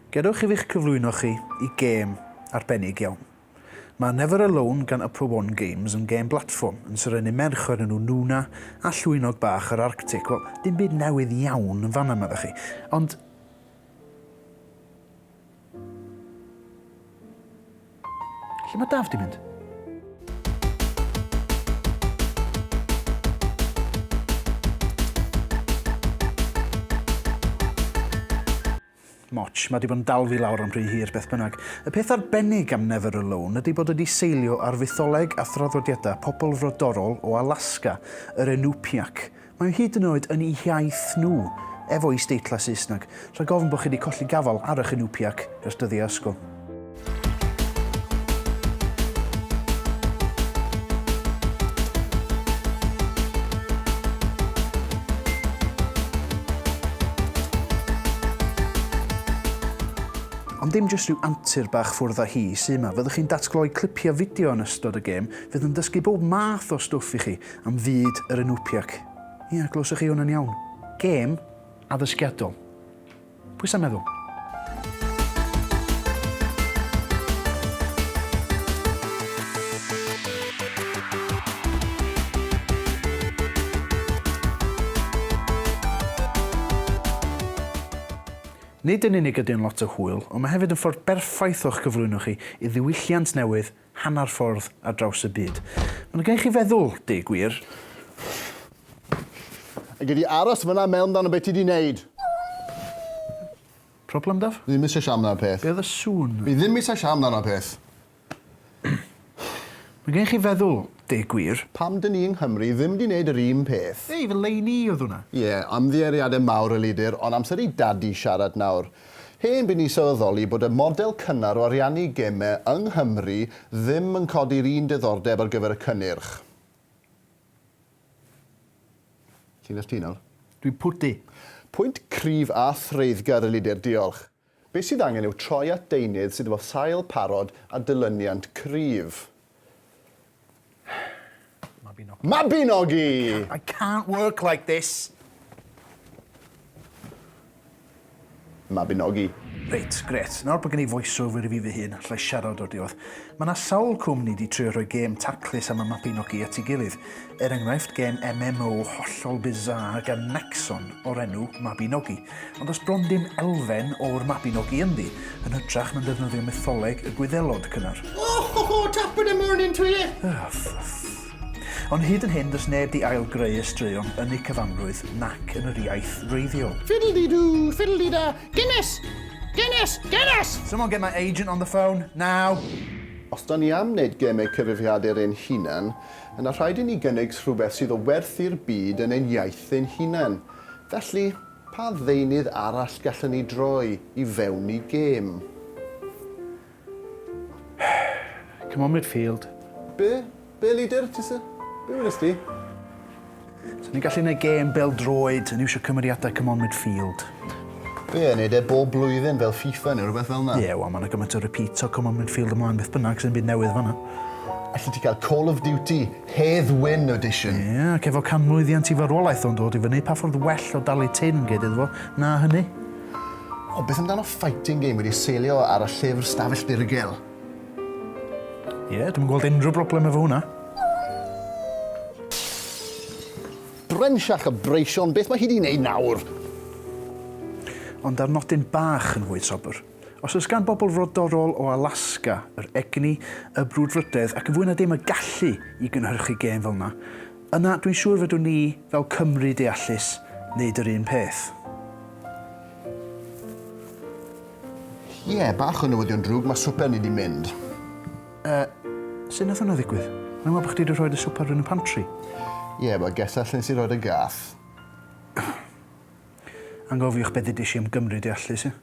Gadewch i fi eich cyflwyno chi i gêm arbennig iawn. Mae Never Alone gan Upper One Games yn gêm blatfform yn serennu merch o'r enw Nuna a llwynog bach yr Arctic. Wel, dim byd newydd iawn yn fan'na, meddech chi, ond... Lle mae Daf di mynd? Moch, mae di bod yn dal fi lawr am rhy hir beth bynnag. Y peth arbennig am Never Alone ydy bod wedi seilio ar fytholeg a thraddodiadau pobl frodorol o Alaska, yr Enupiaq, Mae hyd yn oed yn eu hiaith nhw, efo isdeitlau Saesneg, rhag ofn bod chi wedi colli gafael ar eich Inupiaq ers dyddiau ysgol. Ond dim jyst rhyw antur bach ffwrdd â hi sy' 'ma. Fyddwch chi'n datgloi clipiau fideo yn ystod y gêm fydd yn dysgu bob math o stwff i chi, Am fyd yr Inupiaq. Ia, glywsoch chi hwnna'n iawn. Gêm addysgiadol. Pwy sa'n meddwl? Nid yn unig ydy o'n lot o hwyl, ond mae hefyd yn ffordd berffaith o'ch cyflwyno chi i ddiwylliant newydd hanner ffordd ar draws y byd. Mae'n gwneud chi feddwl, deg gwir. A gei di aros fan'na a meddwl amdano be ti 'di neud. Problem, Daf? Fi ddim eisiau siarad amdano'r peth. Be oedd y sŵn? Fi ddim eisiau siarad amdano'r peth. Mae'n gwneud chi feddwl, deg gwir. Pam 'dyn ni yng Nghymru ddim 'di neud yr un peth? Ei, fy lein i oedd hwnna. Ie, ymddiheuriadau mawr, Elidir, ond amser i Dadi siarad nawr. Hen bu ni sylweddoli bod y model cynnar o ariannu gemau yng Nghymru ddim yn codi'r un diddordeb ar gyfer y cynnyrch. Ti'n nes ti nawr? Dwi'n pwdu. Pwynt cryf a threiddgar y lider, diolch. Be sydd angen yw troi at deunydd sydd efo sail parod a dilyniant cryf. Mabinogi. Mabinogi! I can't work like this. Mabinogi. Reit, grêt. Nawr bod gen i voiceover i fi fy hun, allai siarad o'r diwedd. Mae yna sawl cwmni di trio rhoi gêm taclus am y Mabinogi at ei gilydd. Er enghraifft, gêm MMO hollol bizarre gan Nexon o'r enw Mabinogi. Ond does bron dim elfen o'r Mabinogi ynddi, yn hytrach na'n defnyddio mytholeg y Gwyddelod cynnar. Ohoho, top of the morning to you! Ah, ffff. Ond hyd yn hyn, does neb di ail-greu y straeon yn eu cyfanrwydd nac yn yr iaith wreiddiol. Fiddle-dee-doo, fiddle-dee-da, Guinness! Guinness! Guinness! Someone get my agent on the phone, now! Os dan ni am wneud gemau cyfrifiadur ein hunan, yna rhaid i ni gynnig rhywbeth sydd o werth i'r byd yn ein iaith ein hunan. Felly, pa ddeunydd arall gallwn ni droi i fewn i gêm? Come on midfield. Be? Be leader, ti sy? Be wedest ti? Sa ni'n gallu neud gêm bêl droed yn iwsio cymeriadau come on midfield. Be, neud e bob blwyddyn fel FIFA neu rhywbeth fel 'na? Ie, wel ma' 'na gymaint o repeat o come on midfield ymlaen beth bynnag, sdim byd newydd fan'na. Alli ti cael Call of Duty Hedd Wyn Audition. Ie, ac efo canmlwyddiant i farwolaeth o'n dod i fyny, pa ffordd well o dalu tin, gei ddeud fo, na hynny? O, beth amdano fighting game wedi seilio ar y llyfr Stafell Dirgel? Ie, dwi'm yn gweld unrhyw broblem efo hwnna. Brenshach a breision, beth mae hi 'di 'neud nawr? Ond ar nodyn bach yn fwy sobr. Os oes gan bobl frodorol o Alaska yr egni, y brwdfrydedd ac yn fwy na dim y gallu i gynhyrchu gêm fel yna, yna dwi'n siŵr fedrwn ni, fel Cymry deallus, wneud yr un peth. Ie, bach o newyddion drwg, mae swper ni 'di mynd. Yy, sut nath hwnna ddigwydd? O'n i'n meddwl bod chdi 'di rhoi dy swper yn y pantri. Ie, wel, gesa lle nes i roi'r gath. Angofiwch be' ddeudis i am Gymry deallus, ie?